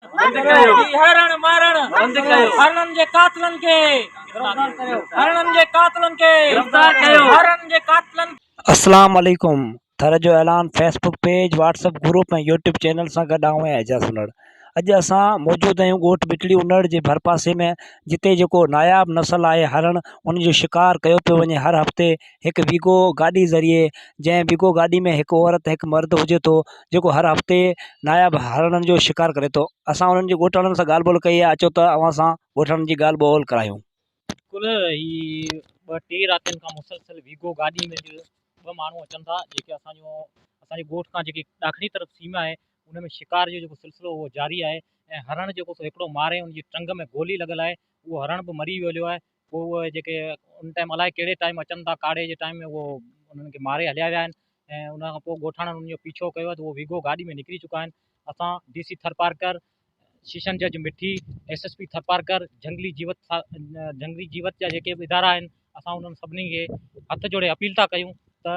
بند ڪيو هي هرڻ مارڻ بند ڪيو هرڻن جي قاتلن کي گرفتار ڪيو هرڻن جي قاتلن کي گرفتار ڪيو هرڻن جي قاتلن اسلام عليڪم ٿر جو اعلان Facebook page WhatsApp group ۽ YouTube channel سان گڏ آئون آهيان اعجاز انڙ اڄ اسان موجود آهيون ڳوٺ بٽڙي انڙ جي ڀرپاسي ۾ جتي جيڪو ناياب نسل آهي هرڻ ان جو شڪار ڪيو پيو وڃي هر هفتي هڪ ويگو گاڏي ذريعي جنهن ويگو گاڏي ۾ هڪ عورت هڪ مرد هجي ٿو جيڪو هر هفتي ناياب هرڻن جو شڪار ڪري ٿو اسان انهن جي ڳوٺ وارن سان ڳالهه ٻولهه ڪئي آهي اچو ته اوهان سان ڳوٺ وارن جي ڳالهه ٻولهه ڪرايون. بلڪل هي ٻه ٽي راتين کان مسلسل ويگو گاڏي ۾ اڄ ٻه ماڻهو اچن ٿا جيڪي اسان جو اسان جي ڳوٺ کان جيڪي ڏاکڻي طرف سيما آهي ان ۾ شڪار جو جيڪو سلسلو اهو جاري آهي ۽ هرڻ جيڪو سو هڪڙو ماري ان جي ٽنگ ۾ گولي لڳل آهي اهو هرڻ به مري ويو هليو آهي پوء اهي جيڪي ان ٽائيم الائي ڪهڙي ٽائيم اچن ٿا ڪاڙهي جي ٽائيم ۾ اهو انهن کي ماري هليا ويا آهن ۽ ان کان پوء ڳوٺاڻن انهن جو پيڇو ڪيو ته اهو ويگو گاڏي ۾ نڪري چڪا آهن اسان ڊي سي ٿرپارڪر شيشن جج Mithi S S P Tharparkar جهنگلي جيوت جهنگلي جيوت جا جيڪي به ادارا آهن اسان انهن سڀني کي هٿ جوڙي اپيل ٿا ڪيون ته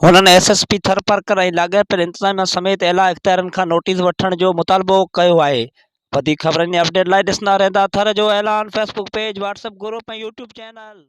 هنن ايس ايس پي ٿرپارڪر ۽ لاڳاپيل انتظاميا سميت اعليٰ اختيارين کان نوٽيس وٺڻ جو مطالبو ڪيو آهي وڌيڪ خبرن ۽ اپڊيٽ لاء ڏسندا رهندا ٿر جو اعلان Facebook page WhatsApp group ۽ YouTube channel.